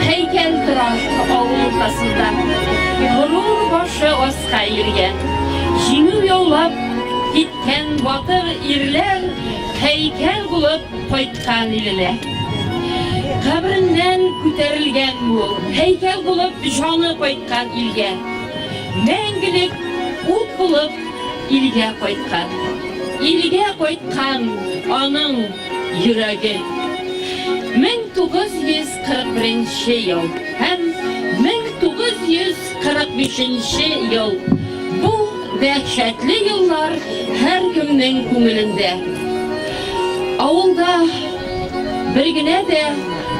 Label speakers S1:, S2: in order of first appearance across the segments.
S1: Һәйкәл тора авыл уртасында. Горур башы аска иелгән. Җиңү яулап киткән батыр ирләр һәйкәл булып кайткан иленә. Кабреннән күтәрелгән ул, һәйкәл булып җаны кайткан илгә. Мәңгелек ут булып Илгә кайткан. Илгә кайткан аның йөрәге. 1941 нче ел һәм 1945 нче ел, бу дәһшәтле еллар һәркемнең күңелендә. Авылда бер генә дә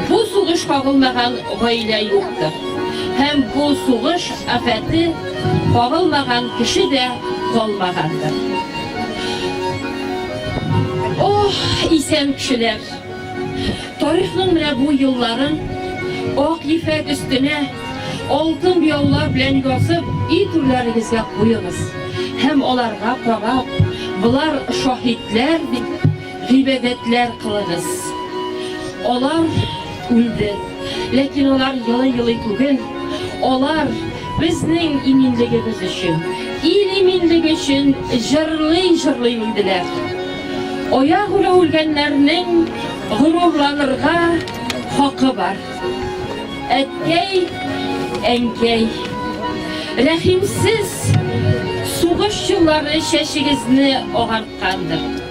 S1: бу сугыш кагылмаган гаилә юктыр. Һәм бу сугыш Афәте кагылмаган кеше дә калмагандыр. Ох, исән кешеләр! Тарихның менә бу елларын ак ефәк өстенә алтын буяулар белән язып, өй түрләрегезгә куегыз һәм аларга карап, Болар шаһитләр, дип, Гыйбадәтләр кылыгыз. Алар үлде, ләкин алар елый-елый түгел, алар безнең иминлегебез өчен, ил иминлеге өчен җырлый-җырлый үлделәр. Аягүрә үлгәннәрнең горурланырга хакы бар. Әткәй, әнкәй, рәхимсез сугыш еллары чәчегезне агарткандыр.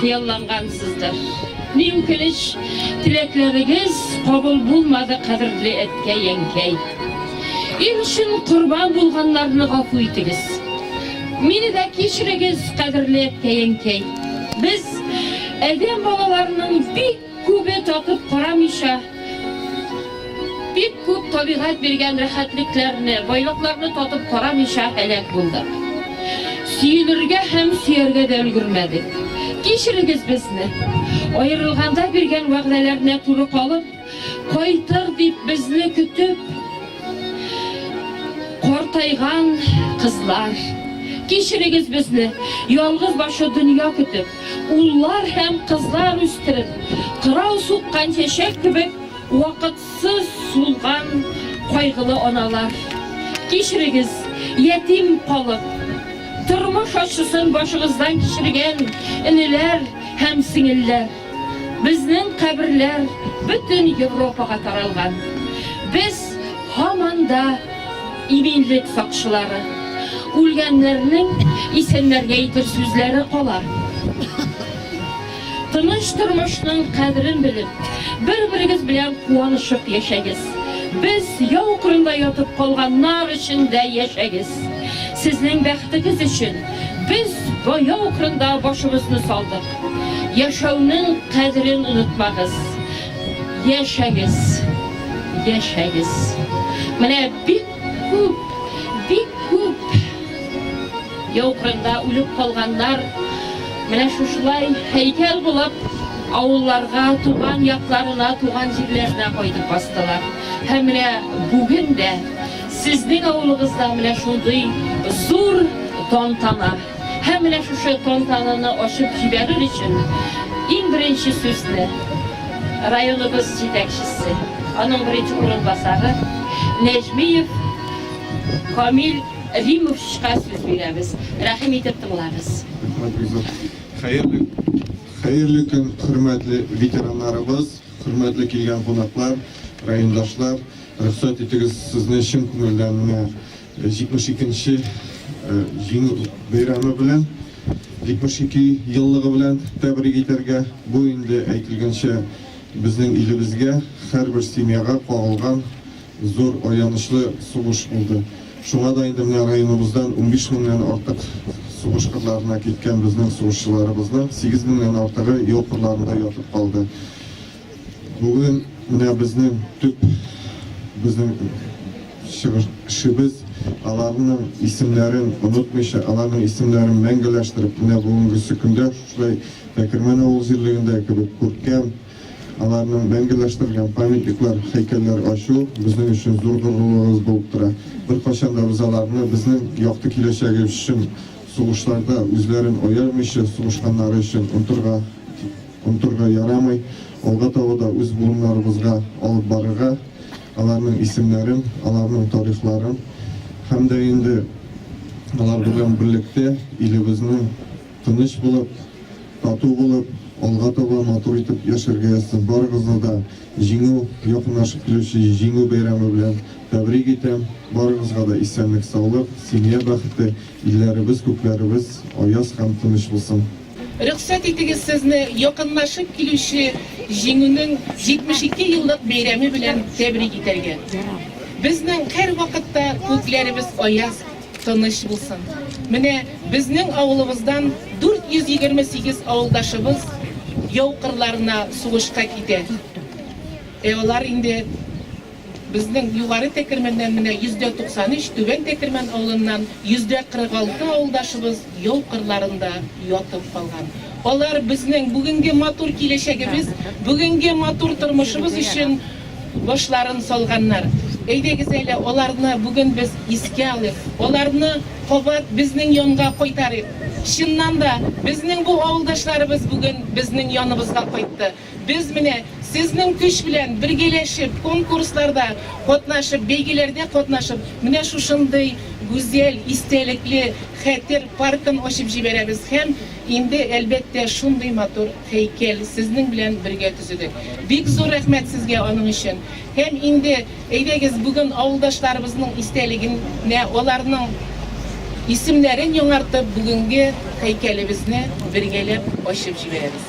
S1: Хыяллангансыздыр. Ни үкенеч, теләкләрегез кабул булмады, кадерле әткәй-әнкәй. Ил өчен корбан булганнарны гафу итегез. Мине дә кичерегез, кадерле әткәй-әнкәй. Без, адәм балаларының бик Күбе такып карамыйча, бик күп табигать биргән рәхәтлекләрне, байлыкларны татып карамыйча һәлак булдык. Сөенергә һәм сөяргә дә өлгермәдек. Кичерегез безне. Аерылганда биргән вәгъдәләренә туры калып, кайтыр дип безне көтеп картайган кызлар. Кичерегез безне, ялгыз башы дөнья көтеп. Уллар һәм кызлар үстереп, кырау суккан чәчәк кебек вакытсыз сулган кайгылы аналар. Кичерегез, ятим калып, тормыш ачысын башыгыздан кичергән энеләр һәм сеңелләр. Безнең каберләр бөтен Европага таралган. Без һаман да. Иминлек сакчылары, үлгәннәрнең исәннәргә әйтер сүзләре кала. Тыныч тормышның кадерен белеп, бер-берегез белән куанышып яшәгез. Без яу кырында ятып калганнар өчен дә яшәгез. Сезнең бәхетегез өчен без яу кырында башыбызны салдык. Яшәүнең кадерен онытмагыз. Яшәгез! Яшәгез! Менә бик күп, бик күп яу кырында үлеп калганнар, менә шушылай һәйкәл булып авылларга, туган якларына, туган җирләренә кайтып бастылар. Һәм менә бүген дә сезнең авылыгызда менә шундый зур тантана. Һәм менә шушы тантананы ачып җибәрер өчен иң беренче сүзне районыбыз җитәкчесе, аның беренче урынбасары Нәҗмиев Камил Римовичка сүз бирәбез. Рәхим итеп тыңлагыз. Хәерле,
S2: хәерле көн, хөрмәтле ветераннарыбыз, хөрмәтле килгән кунаклар, райондашлар! Рөхсәт итегез, сезне чын күңелдән менә 72 нче Җиңү бәйрәме белән, 72 еллыгы белән тәбрик итәргә, бу инде, әйтелгәнчә, безнең илебезгә, һәрбер семьяга кагылган зур аянычлы сугыш булды. Шуңа да инде менә районыбыздан унбиш меңнән артык сугыш кырларына киткән безнең сугышчыларыбызның сигез меңнән артыгы яу кырларында ятып калды. Бүген менә безнең төп безнең чыгышыбыз аларның исемнәрен онытмыйча, аларның исемнәрен мәңгеләштереп, менә бүгенгесе көндә шушылай Әкермән авыл җирлегендә кебек күркәм, аларның мәңгеләштерелгән памятниклар, һәйкәлләр ачу безнең өчен зур горурлыгыбыз булып тора. Беркайчан да без аларны безнең якты киләчәге өчен сугышларда үзләрен аямыйча сугышканнары өчен онтырга Онтырга ярамый, алга таба да үз буыннарыбызга алып барырга, аларның исемнәрен, аларның тарихларын һәм дә инде алар белән берлектә илебезнең тыныч булып, тату булып, алга таба матур итеп яшәргә язсын. Барыгызны да Җиңү, якынлашып килүче Җиңү бәйрәме белән тәбрик итәм. Барыгызга да исәнлек-саулык, семья бәхете, илләребез, күкләребез аяз һәм тыныч булсын. Рөхсәт итегез
S3: сезне якынлашып килүче Җиңүнең 72 еллык бәйрәме белән тәбрик итәргә. Безнең һәрвакытта күкләребез аяз, тыныч булсын. Менә безнең авылыбыздан 428 авылдашыбыз яу кырларына сугышка китә. Ә алар инде. Безнең Югары Тәкермәннән менә 93 Түбән Тәкермән авылыннан 46 авылдашыбыз яу кырларында ятып калган. Алар безнең бүгенге матур киләчәгебез, бүгенге матур тормышыбыз өчен башларын салганнар. Әйдәгез әле аларны бүген без искә алыйк, аларны кабат безнең янга кайтарыйк. Чыннан да, безнең бу авылдашларыбыз бүген безнең яныбызга кайтты. Без менә сезнең көч белән бергәләшеп, конкурсларда катнашып, бәйгеләрдә катнашып, менә шушындый гүзәл, истәлекле Хәтер паркын ачып җибәрәбез һәм инде, әлбәттә, шундый матур һәйкәл сезнең белән бергә төзедек. Бик зур рәхмәт сезгә аның өчен. Һәм инде, әйдәгез, бүген авылдашларыбызның истәлегенә, аларның исемнәрен яңартып, бүгенге һәйкәлебезне бергәләп ачып җибәрәбез.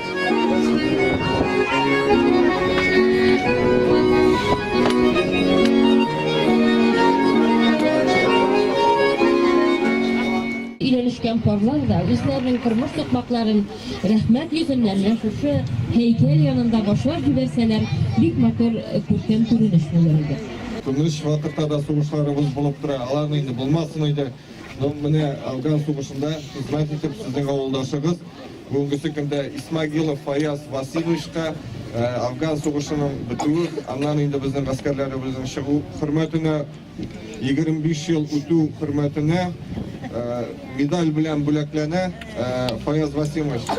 S4: Өйләнешкән парлар да үзләренең тормыш сукмакларын рәхмәт йөзен менә шушы һәйкәл янында башлап җибәрсәләр, бик матур, күркәм күренеш булыр иде. Көнлеш вакытта
S2: да сугышларыбыз булып тора, алар инде булмасын иде. Ну, менә Афган сугышында хезмәт итеп, сезнең авылдашыгыз Бүгенге көндә Исмагилов Фаяз Васильевичка Афган сугышының бетүе, аннан инде безнең гаскәрләребезнең чыгу хөрмәтенә 25 ел үтү хөрмәтенә медаль белән бүләкләнә Фаяз Васильевич.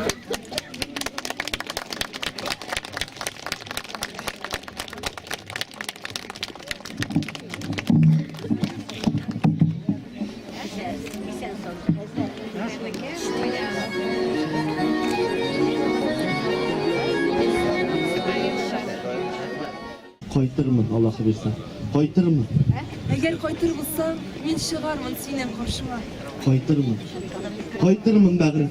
S5: Кайтырмын, Аллах бирсә. Кайтырмын.
S6: Әгәр кайтыр булсаң, мин чыгармын синең каршыңа. Кайтырмын.
S5: Кайтырмын, бәгырем.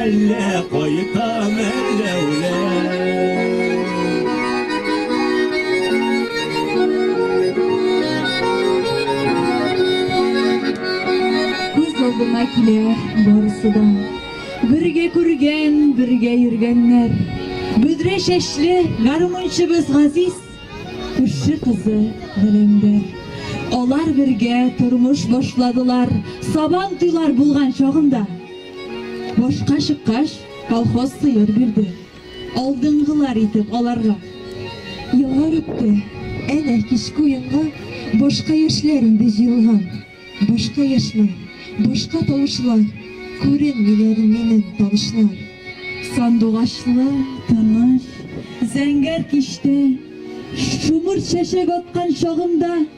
S5: Әллә кайтам, әллә
S4: алдыма килә барысы да бергә күргән бергә йөргәннәр бөдрә чәчле гармунчыбыз газиз күрше кызы гөләндәр алар бергә тормыш башладылар сабан туйлар булган чагында Башка чыккач, колхоз сыер бирде. Алдынгылар итеп аларга. Еллар үтте. Әнә, кичке уенга башка яшьләр инде җыелган. Башка яшьләр, башка тавышлар. Күренмиләр минем танышлар. Сандугачлы, тыныч, зәңгәр кичтә, Шомырт чәчәк аткан чагымда.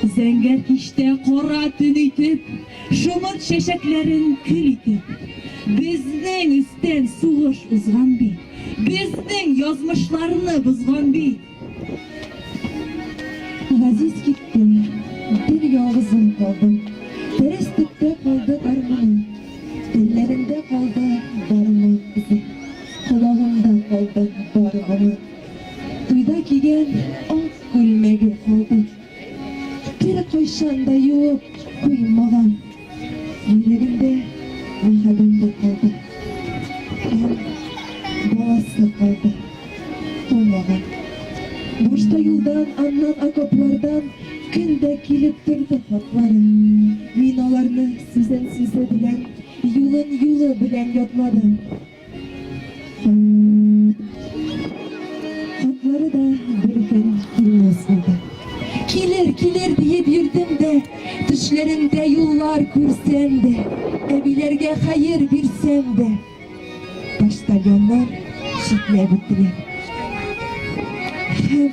S4: Зәңгәр кичтә кара төн итеп, Шомырт чәчәкләрен көл итеп. Безнең өстән сугыш узган бит, Безнең язмышларны бозган бит. Газиз китте, бер ялгызым калдым, Дөрес төптә калды гармуным. Телләрендә калды бары моң изе, Колагымда калды бары гомер. Туйда кигән ак күлмәге калды. Бер кайчан да юып куймаган. Йөрәгендә мәхәббәте калды. Һәм баласы калды. Тумаган. Башта юлдан, аннан окоплардан көн дә килеп торды хатлары. Мин аларны сүзен сүзе белән, юлын юлы белән ятладым. Атлары да бер көн килмәс булды. Килер, килер диеп йөрдем дә, төшләремдә юллар күрсәм дә, әбиләргә хәер бирсәм дә. Почтальоннар шикләп үттеләр. Һәм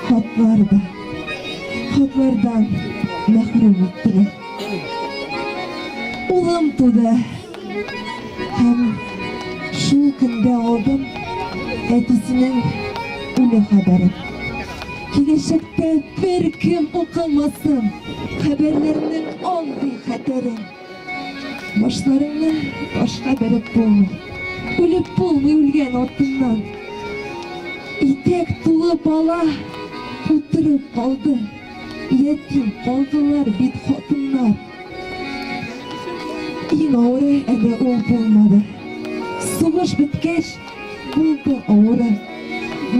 S4: хатлар да, хатлардан мәхрүм иттеләр. Улым туды. Һәм шул көндә алдым әтисенең үле хәбәрен. Киләчәктә бер кем укымасын хәбәрләрнең андый хәтерен. Башларыңны башка бәреп булмый, үлеп булмый үлгән артыннан. Итәк тулы бала утырып калды. Ятим калдылар бит хатыннар. Иң авыры әле ул булмады. Сугыш беткәч, булды авыры.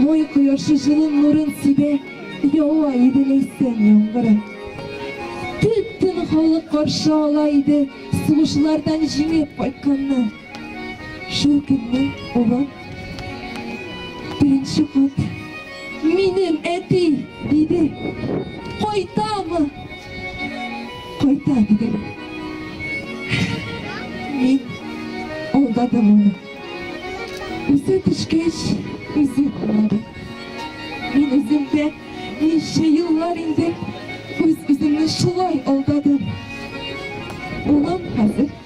S4: Мой кояшы җылын нурын сибә, ява иде ләйсән яңгыры. Төтен халык каршы ала иде, сугышлардан җиңеп кайтканны. Шул көнне улым беренче кат минем әти диде. Кайтамы? Кайта дидем. Мин алдадым аны. Үзе төшкәч, үзе кунады. Мин үземдә ничә еллар инде үз-үземне шулай алдадым. Улым хәзер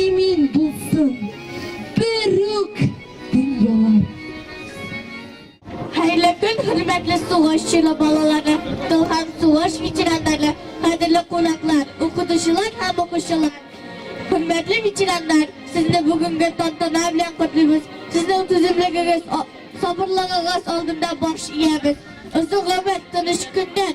S4: Имин булсын берүк дөньялар.
S7: Хәерле көн, хөрмәтле сугыш чоры балалары, тыл һәм сугыш ветераннары, кадерле кунаклар, укытучылар һәм укучылар. Хөрмәтле ветераннар, сезне бүгенге тантана белән котлыйбыз. Сезнең түземлегегез, сабырлыгыгыз алдында баш иябез. Озын гомер, тыныч көннәр,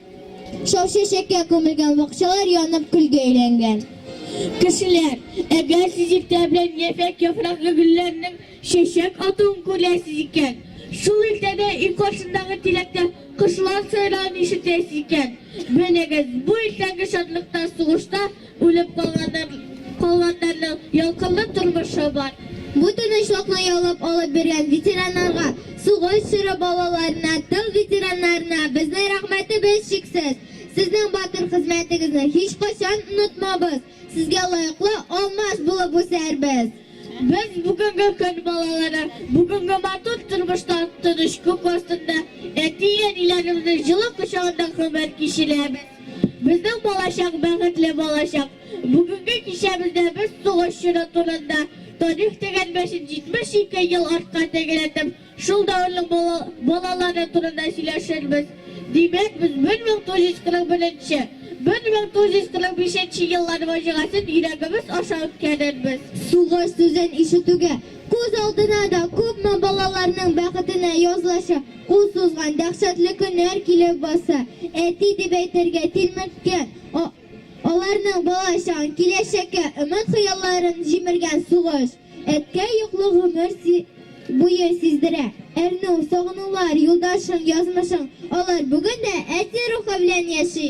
S7: Шау чәчәккә күмелгән, бакчалар янып көлгә әйләнгән. Кешеләр, әгәр сез иртә белән яфәк яфраклы гөлләрнең чәчәк атуын күрәсез икән, шул иртәдә өй каршындагы тирәктә кошлар сайравын ишетәсез икән, белегез, бу иртәнге шатлыкта сугышта Үлеп калганнар, калганнарның ялкынлы тормышы бар. Бу тынычлыкны яулап алып биргән ветераннарга, сугыш чоры балаларына, тыл ветераннарына безнең рәхмәтебез чиксез. Сезнең батыр хезмәтегезне һичкайчан онытмабыз, сезгә лаеклы алмаш булып үсәрбез. Без бүгенге көн балалары бүгенге матур тормышта тыныч күк астында әти-әниләребезнең җылы кочагында гомер кичерәбез. Безнең балачак, бәхетле балачак. Бүгенге кичәбездә без сугыш чоры турында, тарих дигән мәчет 72 ел артка тәгәрәтеп, шул дәвернең бала, балалары турында сөйләшербез. Димәк, без 1941 нче, 1945 нче еллар фаҗигасен йөрәгебез аша үткәрербез. Сугыш сүзен ишетүгә, күз алдына да күпме балаларның бәхетенә язылачак. Кул сузган дәһшәтле көннәр килеп баса. Әти дип әйтергә, тилмерткән, а, аларның бала чагын, киләчәккә өмет-хыялларын җимергән сугыш. Әткәй йоклы гомер си буе сиздерә. Әрнү, сагынулар, юлдашың, язмышың, алар бүген дә әти рухы белән яши.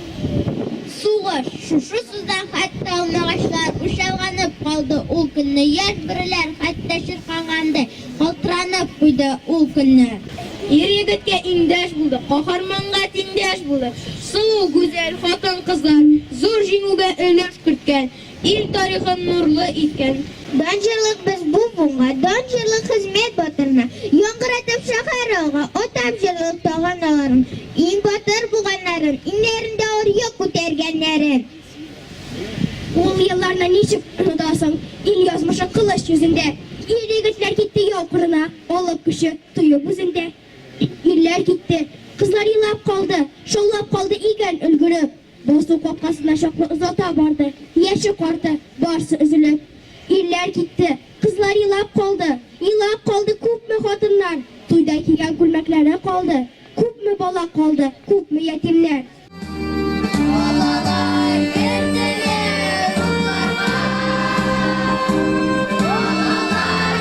S7: Сугыш, шушы суда хәтта алмагачлар учалганып калды ул көнне, яшь бөреләр хәтта чиркангандый калтыранып куйды ул көнне. Ир-егеткә иңдәш булдык, каһарманга тиңдәш булдык, сылу, гүзәл хатын-кызлар зур җиңүгә өлеш керткән. Ил тарихын нурлы иткән. Дан җырлык без бу буынга. Дан җырлык хезмәт батырына. Яңгыратып шәһәр алга. Атап җырлык тагы аналарын. Иң батыр буганнарын. Иңнәрендә ар йөк күтәргәннәрен. Ул елларны ничек онытасың. Ил язмышы кылыч йөзендә. Ир-егетләр китте яу кырына. Алып көче, тоеп үзендә. Ирләр китте. Кызлар елап калды. Шаулап калды игән өлгереп. Басу капкасына чаклы озата барды, яше карты, барсы өзелеп. Ирләр китте, кызлар елап калды. Елап калды күпме хатыннар, туйда кигән күлмәкләре калды. Күпме бала калды, күпме ятимнәр.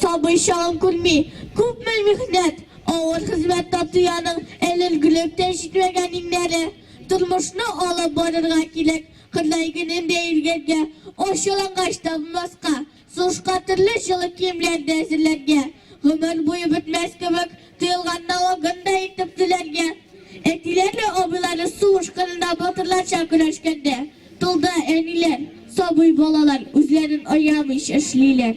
S7: Сабый чагын күрми, күпме михнәт, авыр хезмәт татыяның элелгүлеп тә җитмәгән иңнәре. Тормышны алып барырга кирәк, Кырлай көнен дә иргәргә, ачулангач табынмаска, сушка төрле җылы киемнәр дә әзерләргә. Гомер буе бетмәс кебек Тыелганда ул гындай итеп түләргә. Әтиләре, абыйлары сугыш кырында батырларча көрәшкәндә тылда әниләр, сабый балалар үзләрен аямыйча эшлиләр.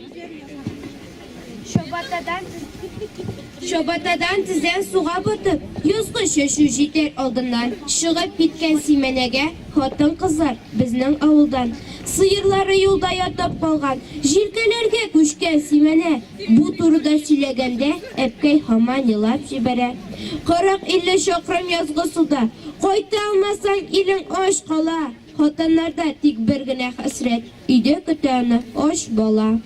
S8: Чабатадан тезен суга батып, язгы чәчү җитәр алдыннан чыгып киткән Симәнәгә хатын-кызлар безнең авылдан. Сыерлары юлда ятып калган, җилкәләргә күчкән Симәнә. Бу турыда сөйләгәндә, әбкәй һаман елап җибәрә. Кырык-илле чакрым язгы суда, кайта алмасаң, илең ач кала. Хатыннарда тик бер генә хәсрәт, өйдә көтә аны ач бала.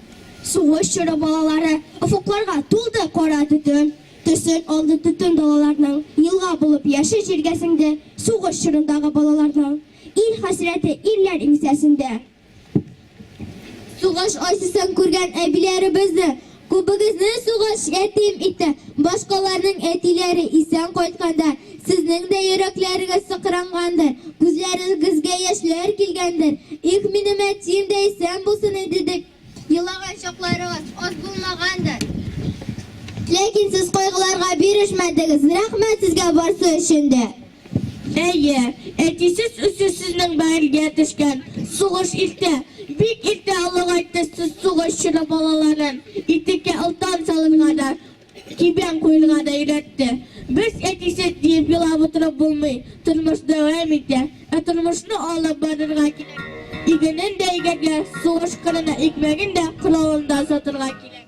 S8: Сугыш чоры
S7: балалары офыкларга тулды кара төтен төсен алды Төтен далаларның елга булып яше җиргә сеңде Сугыш чорындагы балаларның ил хәсрәте ирләр иңсәсендә. Сугыш ачысын күргән әбиләребез дә, күбегезне сугыш ятим итте. Башкаларның әтиләре исән кайтканда, сезнең дә йөрәкләрегез сыкрангандыр, күзләрегезгә яшьләр килгәндер. Их, минем әтием дә исән булсын иде дип елаган чакларыгыз аз булмагандыр. Ләкин сез кайгыларга бирешмәдегез. Рәхмәт сезгә барсы өчен дә! Әйе, әтисез үсү сезнең бәгырьгә төшкән. Сугыш иртә, бик иртә олыгайтты сез сугыш чоры балаларын. Итеккә олтан салырга да, кибән куерга да өйрәтте. Без әтисез диеп елап утырып булмый, тормыш дәвам итә. Ә тормышны алып барырга кирәк. Игенен дә игәргә, сугыш кырына икмәген дә, коралын да сатырга кирәк.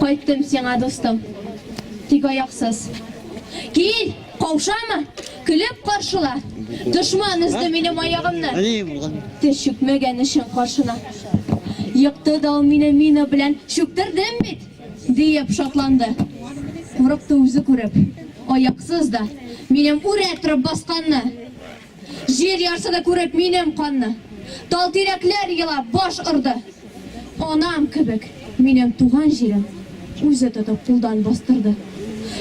S8: Кайттым сиңа, дустым, тик аяксыз. Кил, каушама, көлеп каршыла. Дошман өзде минем аягымны. Тез чүкмәгән өчен каршына. Екты да ул мине мина белән, чүктердем бит! диеп шатланды. Курыкты үзе күреп, аяксыз да, минем үрә торып басканны. Җир ярсыды күреп минем канны. Тал тирәкләр елап баш орды. Анам кебек минем туган җирем Үзе тотып кулдан бастырды.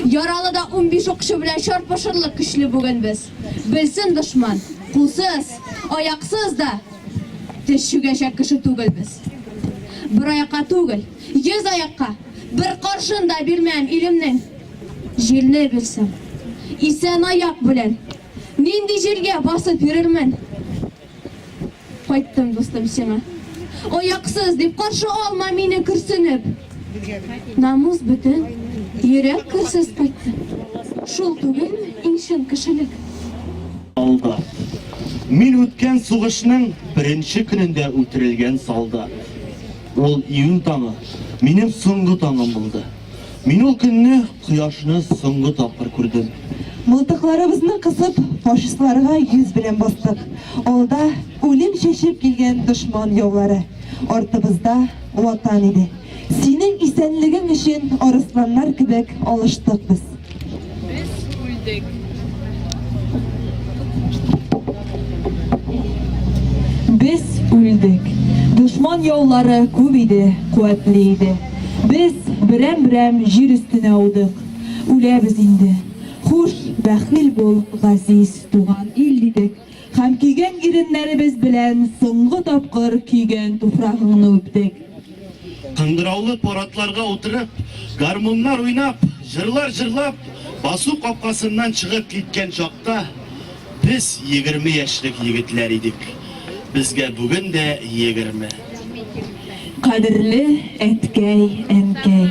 S8: Яралы да унбиш укчы белән Чарпышырлык көчле бүген без. Белсен дошман, кулсыз, аяксыз да Тез чүгәчәк кеше түгел без. Бер аякка түгел, йөз аякка Бер каршын да бирмәм илемнең. Җирне бирсәм, исән аяк белән. Нинди җиргә басып йөрермен? Кайттым, дустым, сиңа. Ояксыз дип каршы алма мине көрсенеп. Намус бөтен, йөрәк керсез кайтты. Шул түгелме иң чын кешелек? Алда.
S5: Мин үткән сугышның беренче көнендә үтерелгән солдат. Ул июнь таңы минем соңгы таңым булды. Мин ул көнне кояшны соңгы тапкыр күрдем. Мылтыкларыбызны
S9: кысып, фашистларга йөз белән бастык. Алда үлем чәчеп килгән дошман яулары, артыбызда ватан иде. Синең исәнлегең өчен арысланнар кебек алыштык без. Без үлдек. Дошман яулары күп иде, куәтле иде. Без берәм-берәм җир өстенә аудык. Үләбез инде. Хуш, бәхил бул, газиз туган ил, дидек. Һәм көйгән иреннәребез белән соңгы тапкыр көйгән туфрагыңны үптек. Кыңгыраулы
S5: парадларга утырып, гармуннар уйнап, җырлар җырлап, басу капкасыннан чыгып киткән чакта, без егерме яшьлек егетләр идек. Безгә бүген дә егерме.
S9: Кадерле әткәй, әнкәй,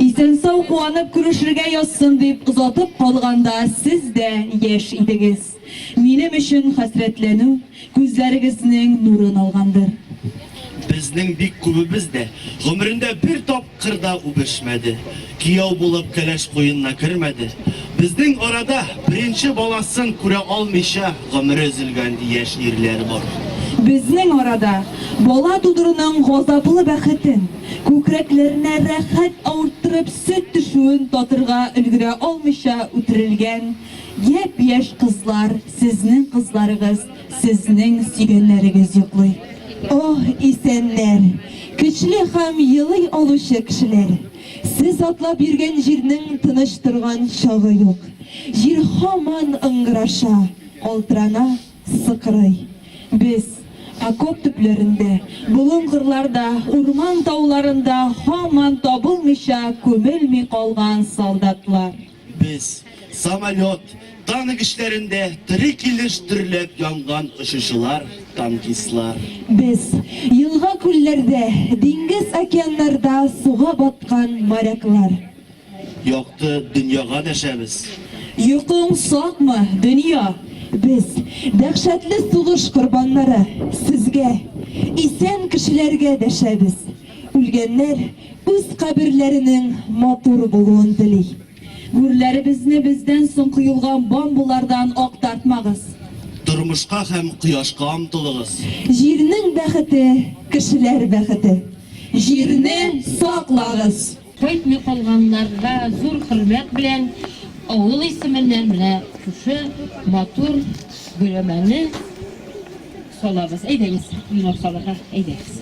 S9: исән-сау куанып күрешергә язсын дип озатып калганда, сез дә яшь идегез. Минем өчен хәсрәтләнү күзләрегезнең нурын алгандыр. Безнең
S5: бик күбебез дә гомерендә бер тапкыр да үбешмәде, кияү булып кәләш куенына кермәде. Безнең арада беренче баласын күрә алмыйча гомере өзелгән яшь ирләр бар. Безнең
S9: арада бала тудыруның газаплы бәхетен, күкрәкләренә рәхәт авырттырып сөт төшүен татырга өлгерә алмыйча үтерелгән Япь-яшь кызлар, сезнең кызларыгыз, сезнең сөйгәннәрегез йоклый. Оһ, исәннәр! Көчле хам елый алучы кешеләр! Сез атлап йөргән җирнең тыныч торган чагы юк. Җир һаман ыңгыраша, калтырана, сыкрый. Без, окоп төпләрендә, болын-кырларда, урман-тауларында һаман табылмыйча, күмелми калган солдатлар. Без,
S5: самолет, танк эшләрендә тере килеш дөрләп янган очучылар, танкистлар. Без,
S9: елга-күлләрдә, диңгез-океаннарда суга баткан моряклар. Якты
S5: дөньяга дәшәбез. Йокың
S9: сакмы, дөнья? Без, дәһшәтле сугыш корбаннары, сезгә, исән кешеләргә дәшәбез. Үлгәннәр үз каберләренең матур булуын тели. Гүрләребезне бездән соң коелган бомбалардан актартмагыз. Тормышка
S5: һәм кояшка омтылыгыз. Җирнең
S9: бәхете, кешеләр бәхете. Җирне саклагыз! Кайтмый
S1: калганнарга зур хөрмәт белән авыл исеменнән менә шушы матур биләмәне салабыз. Әйдәгез, венок салырга әйдәгез.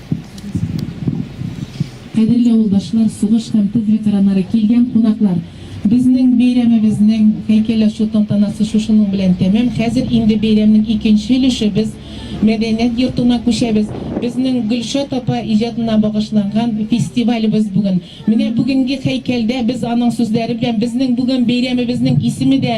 S9: Кадерле авылдашлар, сугыш һәм тыл ветераннары, килгән кунаклар! Безнең бәйрәмебезнең һәйкәл ачу тантанасы шушының белән тәмам. Хәзер инде бәйрәмнең икенче өлеше, без мәдәният йортына күчәбез. Безнең Гөлшат апа иҗатына багышланган фестивалебез бүген. Менә бүгенге һәйкәлдә без аның сүзләре белән, безнең бүген бәйрәмебезнең исеме дә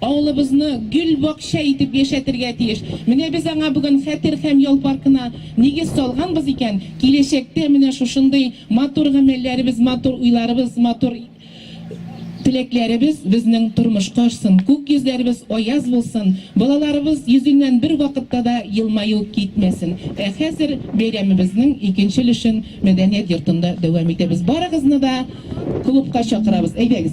S9: Авылыбызны гөл бакча итеп яшәтергә тиеш. Менә без аңа бүген Хәтер һәм ял паркына нигез салганбыз икән, киләчәктә менә шушындый матур гамәлләребез, матур уйларыбыз, матур теләкләребез безнең тормышка ашсын, күк йөзләребез аяз булсын, балаларыбыз йөзеннән бервакытта да елмаю китмәсен. Ә хәзер бәйрәмебезнең икенче өлешен мәдәният йортында дәвам итәбез. Барыгызны да клубка чакырабыз, әйдәгез!